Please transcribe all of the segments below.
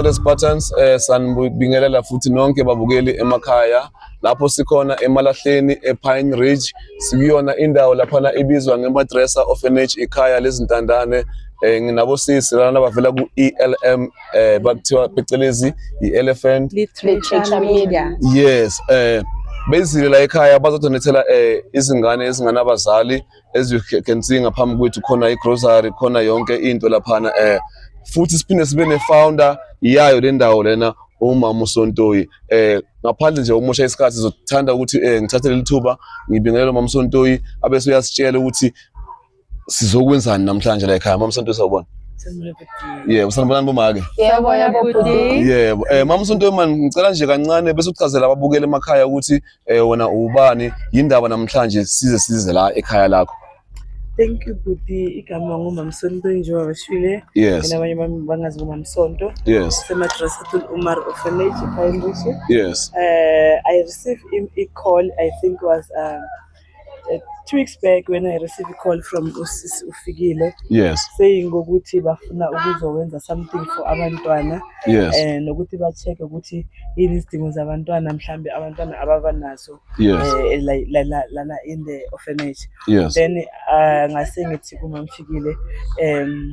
Andres Patterns eh, sanibingelela futhi nonke babukeli emakhaya lapho sikhona emalahleni ePine Ridge sikuyona indawo laphana ibizwa ngeMadresa Orphanage ikhaya lezintandane eh, nginabosisi lana bavela ku-ELM eh bakuthiwa phecelezi i-elephant literature media yes eh bezile la ekhaya bazodonethela eh izingane ezinganabazali as you can see ngaphambi kwethu khona i-grocery khona yonke into laphana eh futhi siphinde sibe ne-founder yayo le ndawo lena umama uSontoyi eh ngaphandle nje ukusha isikhathi sizothanda ukuthi eh ngithathe leli thuba ngibingelele umama uSontoyi abese uyasitshela ukuthi sizokwenzani namhlanje la ekhaya mama Santosa ubona Yeah, usanibonani bomake? Yebo, yebo bhuti. Yebo. Eh mama Sontoyimani ngicela nje kancane bese uchazela ababukeli emakhaya ukuthi eh wena ubani yindaba namhlanje size size la ekhaya lakho. Thank you bhuti, igama ngumamsonto njengoba bashile yes. nabanye bami bangazi ngumamsonto yes. semadrasatul umar orphanage ekhaya yes. uh, i receive a call i think was um, eh, two weeks back when I received a call from usisi ufikile yes saying ukuthi bafuna ukuzokwenza something for abantwana yes eh nokuthi ba check ukuthi yini isidingo zabantwana mhlambe abantwana ababa nazo yes eh, la- la- la- lana in the orphanage yes then uh, ngase ngithi kumamfikile um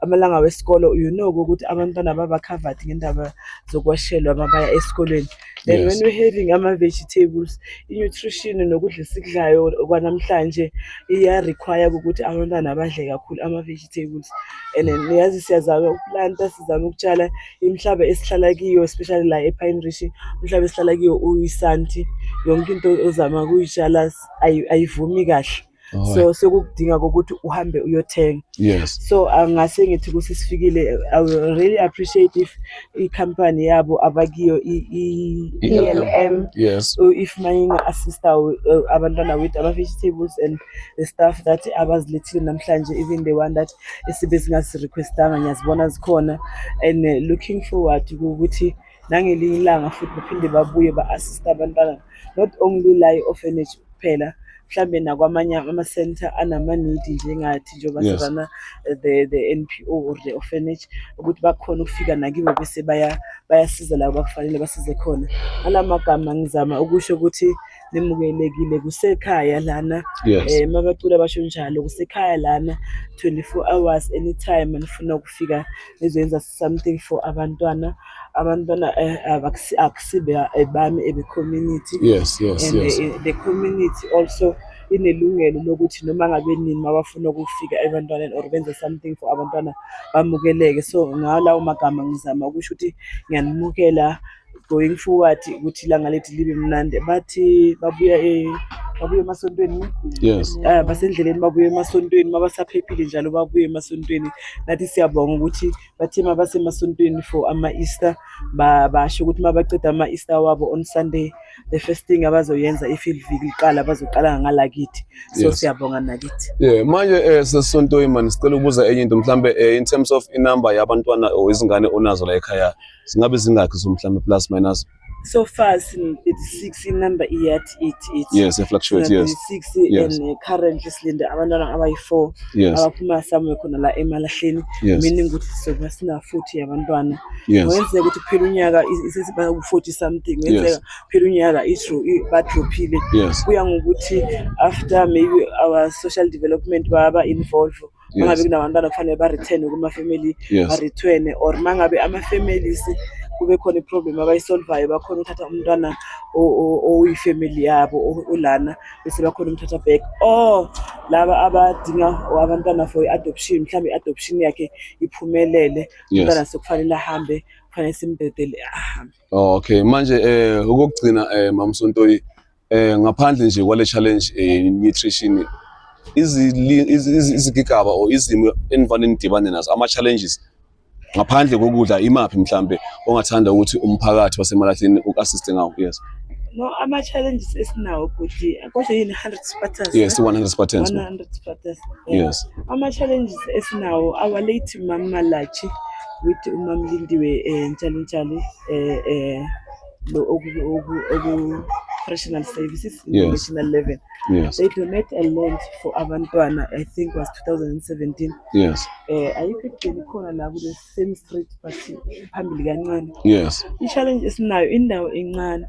amalanga wesikole you know ukuthi abantwana baba covered ngendaba zokwashelwa uma baya esikolweni then yes. when we having ama-vegetables i-nutrition nokudla esikudlayo kwanamhlanje iya-require ukuthi abantwana badle kakhulu ama-vegetables and then niyazi siyazama ukulanta sizame ukutshala imihlaba esihlala kiyo especially la epine rish umhlaba esihlala kiyo uyisanti yonke into ozama kuyitshala ayivumi kahle so sekukudinga kokuthi uhambe uyothenga yes so angase ah, ngithi kusisifikile i will really appreciate if i-company yabo abakiyo i-elm e yes if mayinga assista eh, abantwana with ama-vegetables and the stuff that abazilethile namhlanje even the one that esibe singazirequestanga ngiyazibona zikhona and eh, looking forward ukuthi nangelinye ilanga futhi baphinde babuye ba-assiste abantwana not only la i-orphanage kuphela mhlambe nakwamanye ama-center anama-need njengathi njengoba Yes. sibana eh, the, the n p o or the orphanage ukuthi bakhona ukufika nakibo bese baya- bayasiza labo bakufanele basize khona ala magama ngizama ukusho ukuthi nimukelekile kusekhaya lana Yes. um mabacula basho njalo kusekhaya lana 24 hours anytime anifuna ukufika nizoyenza something for abantwana abantwana eh, abakusi- akusibe ebami ebecommunity yes yes and yes eh, the community also inelungelo lokuthi noma ngabe nini mabafuna ukufika ebantwaneni or benze something for abantwana bamukeleke so ngalawo magama ngizama ukusho ukuthi ngiyanimukela going forward ukuthi ilanga lethu libe mnandi bathi babuya e babuye emasontweni yes uh, basendleleni babuye emasontweni mabasaphephile njalo babuye emasontweni nathi siyabonga ukuthi bathe mabasemasontweni for ama-easter basho ukuthi mabaceda ama-easter wabo on sunday the first thing abazoyenza i-field vik liqala bazoqala ngalakithi so yes. siyabonga nakithi yeah manje um eh, sesontweni mani sicela ukubuza enye into mhlawumbe um eh, in terms of inumber yabantwana or izingane onazo la ekhaya singabe zingakhi so mhlawumbe plus minus so far sin 36 inumber iyathi it it yes it fluctuates yes 36 yes. and currently silinde abantwana abayi4 yes. abaphuma somewhere khona la emalahleni yes. meaning ukuthi soba sina 40 yabantwana yes. wenzeka ukuthi phela unyaka isisiba 40 something wenzeka yes. phela unyaka itro badrophile yes. kuya ngokuthi after maybe our social development baba involved mangabe kunabantwana kufanele ba-returne kuma-family Yes. ba-returne or mangabe ama-families kube khona i-problem abayisolvayo bakhona ukuthatha umntwana o- o- oyi-family yabo o- olana bese bakhona umthatha back or laba abadinga or abantwana for i-adoption mhlawumbe i-adoption yakhe iphumelele umntwana Yes. sekufanele ahambe kufanele simbhedele ahambe Oh, okay. Manje eh okugcina eh Mamsontoyi Eh ngaphandle nje kwale challenge eh nutrition izigigaba or izimo enivane nidibane nazo ama challenges ngaphandle kokudla imaphi mhlambe ongathanda ukuthi umphakathi wasemalahleni uku-assiste ngawo yes no ama challenges esinawo bhuti kodwa yini 100 spartans yes 100 spartans 100 spartans yes ama challenges esinawo our late mama lachi with umamlindiwe eh, njalo njalo eh, eh, Operational services in yes. national level. Yes. They donate a land for abantwana, I think was 2017. Yes. Eh ayikho igcini khona la kule same street but phambili kancane. Yes. I challenge esinayo indawo encane.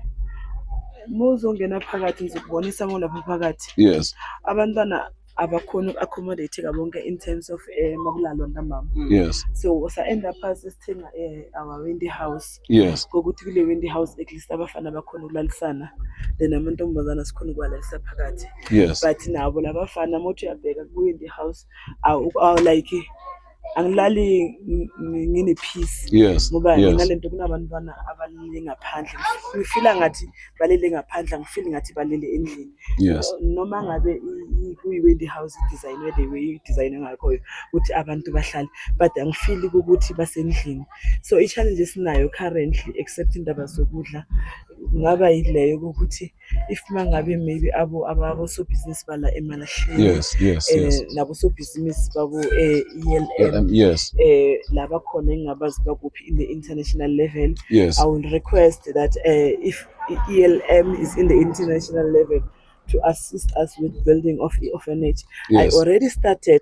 Muzongena phakathi ngizokubonisa ngolapha phakathi. Yes. Abantwana abakhona uku-accommodateka bonke in terms of um makulalwa ntambama yes so sa-enda phasi sithenga um our windy house yes ngokuthi kule windy house at least abafana bakhona ukulalisana then amantombazana sikhona ukuwalalisa phakathi yes but nabo labafana mothi uyabheka kwi-windy house awu- awu like angilali ngine peace yes ngoba nginale nto kunabantwana abalele ngaphandle ngifila ngathi balele ngaphandle ngifili ngathi balele endlini yes noma ngabe kuyi-wedding house i-design wede i-design engakhoyo ukuthi abantu bahlale but angifili ukuthi basendlini so i-challenge esinayo currently except indaba zokudla kungaba yileyo kokuthi if mangabe maybe abo ababosobhizinisi bala emalahleni yes yes eh, yes nabosobhizinisi babo eh ELM yes eh laba khona engabazi bakuphi in the international level yes i will request that eh if ELM is in the international level to assist us with building of the orphanage yes. i already started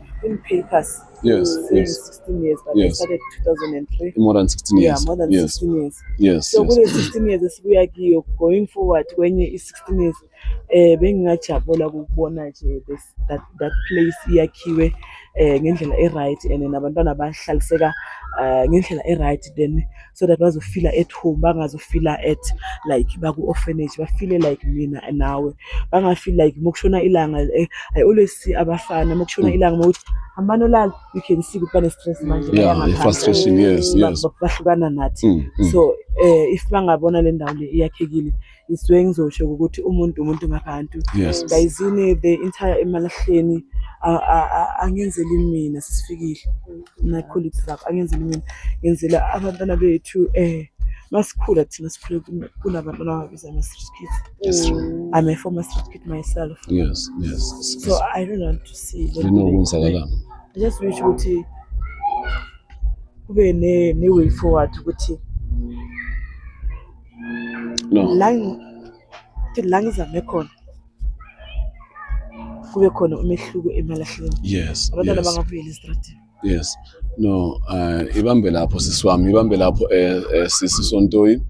in papers. Yes, since yes. 16 years, but yes. I started 2003. More than 16 years. Yeah, more than yes. 16 years. Yes. So yes. kule 16 years esibuya kiyo going forward kwenye i 16 years eh bengingajabula ukubona nje that that place iyakhiwe eh ngendlela e right and nabantwana bahlaliseka eh ngendlela e right then so that bazofila at home bangazofila at like baku-orphanage bafile like mina nawe bangafili like uma kushona ilanga eh, i always see abafana uma kushona mm. ilanga uma ukuthi hambani olala you can see ukuthi bane-stress manje bahlukana nathi mm, mm. so um if bangabona le ndawo le iyakhekile ngisuke ngizosho ukuthi umuntu umuntu ngabantu yes bayizini the entire emalahleni angenzeli mina sisifikile my colleagues lapho angenzeli mina ngenzela abantwana bethu eh masikhula thina sikhule kunabantwana ababiza ama-street kids yes. Mm. i'm a former street kid myself yes yes so i don't want to see lenokwenzakala i just wish ukuthi kube ne-way forward ukuthi no la ngi- la ngizame khona kube khona umehluko emalahleni yes abantwana yes bangabuyeli esitradini yes no uh, ibambe lapho sisi wami ibambe lapho eh, eh, sisi sontoyi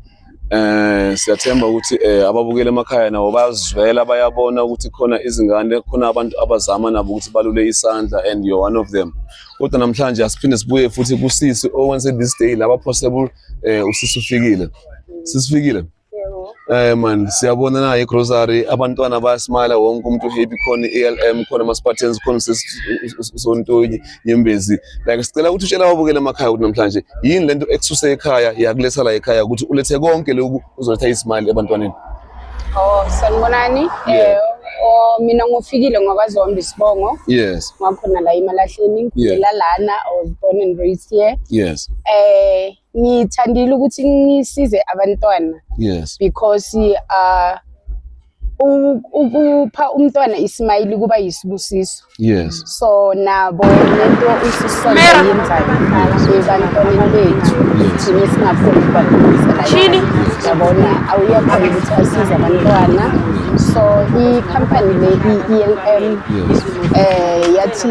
eh siyathemba ukuthi eh, ababukele emakhaya nabo bayazivela bayabona ukuthi khona izingane khona abantu abazama nabo ukuthi balule isandla and you're one of them kodwa namhlanje asiphinde sibuye futhi kusisi owense this day laba possible Eh usisi ufikile. Sisifikile. Eh man siyabona na igrocery abantwana bayasmile wonke umuntu uhappy khona iLM khona ama Spartans khona sontonyi nyembezi like sicela ukuthi utshela ababukeli emakhaya ukuthi namhlanje yini lento ekususe ekhaya yakuletha la ekhaya ukuthi ulethe konke lokhu uzoletha ismile ebantwaneni. Oh, sanibonani. Yeah. Eh, oh, mina ngofikile ngakwazi wami isibongo. Yes. Ngakhona la imalahleni ngikhulela lana I was born and raised here. Yes. Eh, ngithandile ukuthi ngisize abantwana. Yes. Because uh upha umntwana ismayili kuba yisibusiso. yes so nabo lento isisonto yenzayo ebantwaneni bethu thina singakhoni ukubadlulisela Shini? yabona awuyakhona ukuthi asize abantwana so ikhampani le i-elm yes eh yathi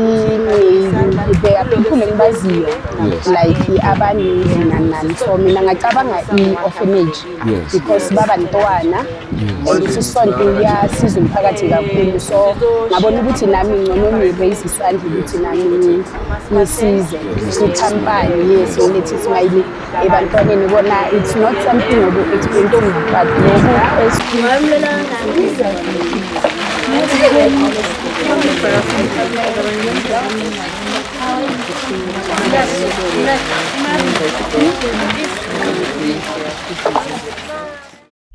ngibeyaphiphule ngibaziyo Yes. like abaningi nanani so mina ngacabanga i-orphanage Yes. because baba ntwana and futhi isonto liyasiza umphakathi kakhulu so ngabona ukuthi nami ngcono ngireyise isandla ukuthi nami ngi- ngisize ngithampane yes ngilethi ismayili ebantwaneni kona it's not something obu-expensive but lokhu es-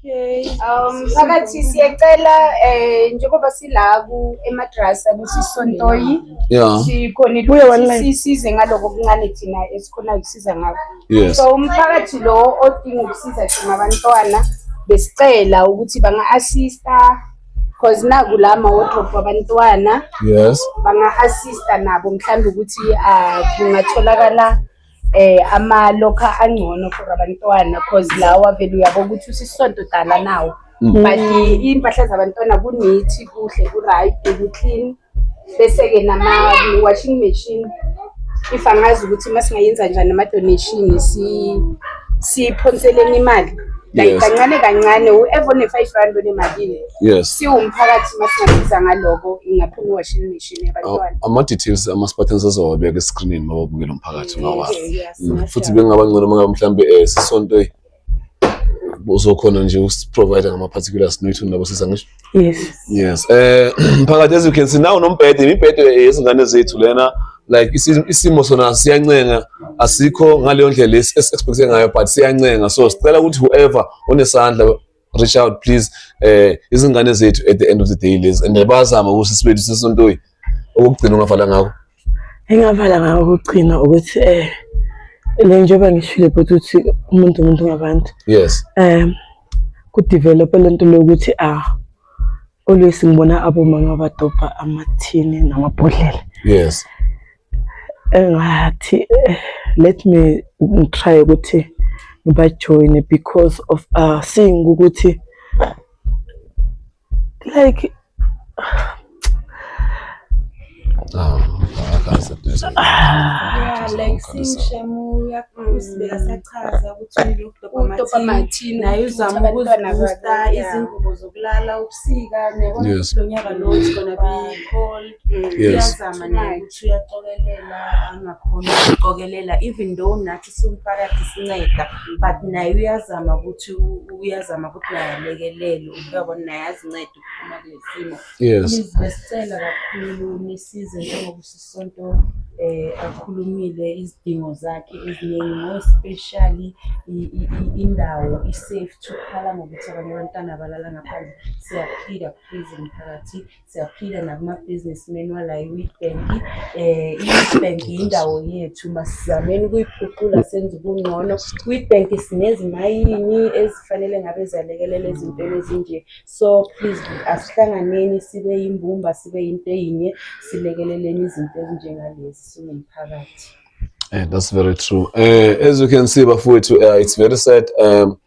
Um phakathi siyacela eh njengoba silaku emadrasa ukuthi sontoyi yeah sikhona ukuthi sisize ngaloko okuncane thina esikhona ukusiza ngakho so umphakathi lo odinga ukusiza thina abantwana besicela ukuthi banga assista because naku la ma-wardrobe wabantwana yes banga-assista nabo mhlawumbe ukuthi ah, kungatholakala eh ama-locker angcono for abantwana because lawa vele uyabo ukuthi usisonto dala nawo but impahla zabantwana kunithi kuhle ku-right ku-clean bese-ke nama-washing machine if angazi ukuthi uma singayenza njani ama-donation siphonseleni imali like Yes. kancane kancane whoever one-five rand onemalini yes siwumphakathi uma singasiza ngaloko ingaphuma i-washing machine yabantwana ama-details ama-spartans azowabeka escreenini mababukela umphakathi ngawazi Okay, yes, Mm, futhi ngingasho. bengaba ngcono mangabe mhlawumbe um sisonto uzokhona nje usiprovider ngama-particulars noyithu nabo siza ngisho yes yes eh mphakathi as you can see nawo nombhede imibhede yezingane zethu lena like isimo sona siyancenga asikho ngaleyo ndlela esi-expecte ngayo but siyancenga so sicela ukuthi whoever onesandla reach out please eh izingane zethu at the end of the day lezi and bazama ukuthi sibethu sesontoyi okugcina ungafala ngakho engavala ngawo ukugcina ukuthi eh le njengoba ngishile bhuti ukuthi umuntu umuntu ngabantu yes um kudevelope le nto lokuthi ah always ngibona abomama abadobha amathini namabhodlela yes engathi eh, let me try ukuthi ngibajoyine because of uh seeing ukuthi like um yeah like sishemu yakuzibeka sachaza ukuthi udopamatini naye uzama ukuzibusta izingubo zokulala ubusika nekulo nyaka lo it's gonna be cold uyazama naye ukuthi uyacokelela angakhona ukucokelela even though nathi umphakathi sinceda but naye uyazama ukuthi uyazama ukuthi naye alekelele uyabona naye azincede ukuphuma kule simo besicela kakhulu nisize njengoba usisonto um eh, akhulumile izidingo zakhe eziningi ngospeshali indawo i-safe thukhala ngokuthi abanye abantwana abalala ngaphandle siyaphika please mphakathi siyaphila nakumabhizinismeni wala i-witbank um eh, i-witbank yindawo yethu masizameni ukuyiphucula senze ubungcono witbank sinezimayini ezifanele ngabe ziyalekelela ezintweni ezinje so please asihlanganeni sibe yimbumba sibe yinto eyinye silekeleleni izinto ezinjengalezi singumphakathi Yeah, that's very true. Uh, as you can see, Bafuetu, uh, eh, it's very sad. Um,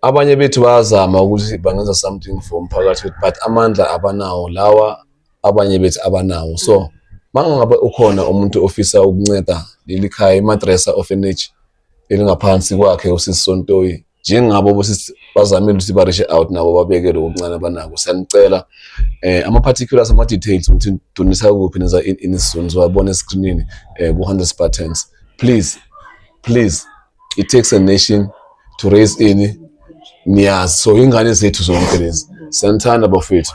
abanye bethu bayazama ukuthi bangenza something for umphakathi wethu but amandla abanawo lawa abanye bethu abanawo so mangabe ukhona umuntu ofisa ukunceda leli khaya imadresa orphanage elingaphansi kwakhe usisi Sontoyi njengabo bosisi bazamile ukuthi barishe out nabo babekele okuncane abanako siyanicela eh ama particulars ama details ukuthi dunisa kuphi neza in isizungu wabona escreenini eh ku 100 buttons please please it takes a nation to raise ini niyazi so ingane zethu zonke lezi siyanithanda bafethu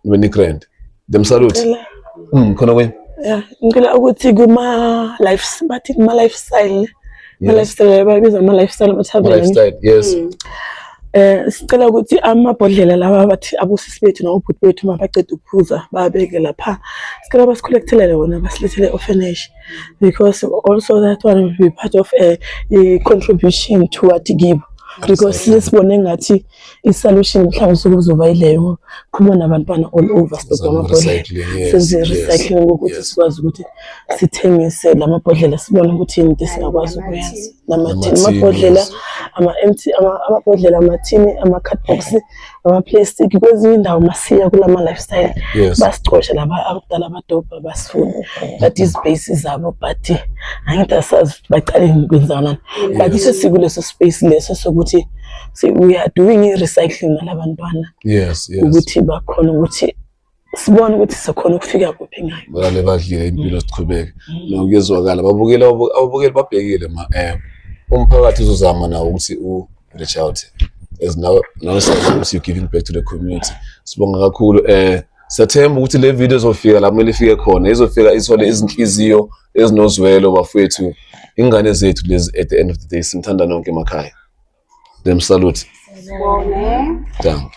nibe nigrand them salute Ngicela- mm, khona kwenye ya, ngicela ukuthi kuma life bathi kuma lifestyle ma Yes. lifestyle babiza ama lifestyle ama tavern lifestyle yes eh sicela ukuthi amabhodlela lawa bathi abusisi bethu nobhuti bethu mabaqeda ukuphuza babeke lapha sicela basicollectele wona basilethele orphanage because also that one will be part of a, a contribution to what give because sesibone ngathi i-solution mhlawumbe sokuzoba yileyo khuluma nabantwana all over sibheke amabhodlela senze recycling ukuthi sikwazi ukuthi sithengise la mabhodlela sibone ukuthi yini into singakwazi ukuyenza namathini amabhodlela ama-empty amabhodlela amathini ama-cardbox amaplastic kwezinye indawo masiya kulama lifestyle yes. basicoshe laba abadala abadobha basifuni but izibase zabo but angithi asazi baqale ngikwenzakalani yes. but iso sikuleso space leso sokuthi we are doing i-recycling nalabantwana yes, yes. ukuthi bakhona ukuthi sibone ukuthi sokhona ukufika kuphi ngayo bale badlile impilo siqhubeke nokuyezwakala babukele ababukeli babhekile ma eh umphakathi uzozama nawo ukuthi u reach out as now now you giving back to the community sibonga kakhulu eh Siyathemba ukuthi le video izofika la kumele ifike khona, izofika ithole izinhliziyo ezinozwelo bafowethu, ingane zethu lezi at the end of the day simthanda nonke emakhaya. Dem salute. Sibonge. Danke.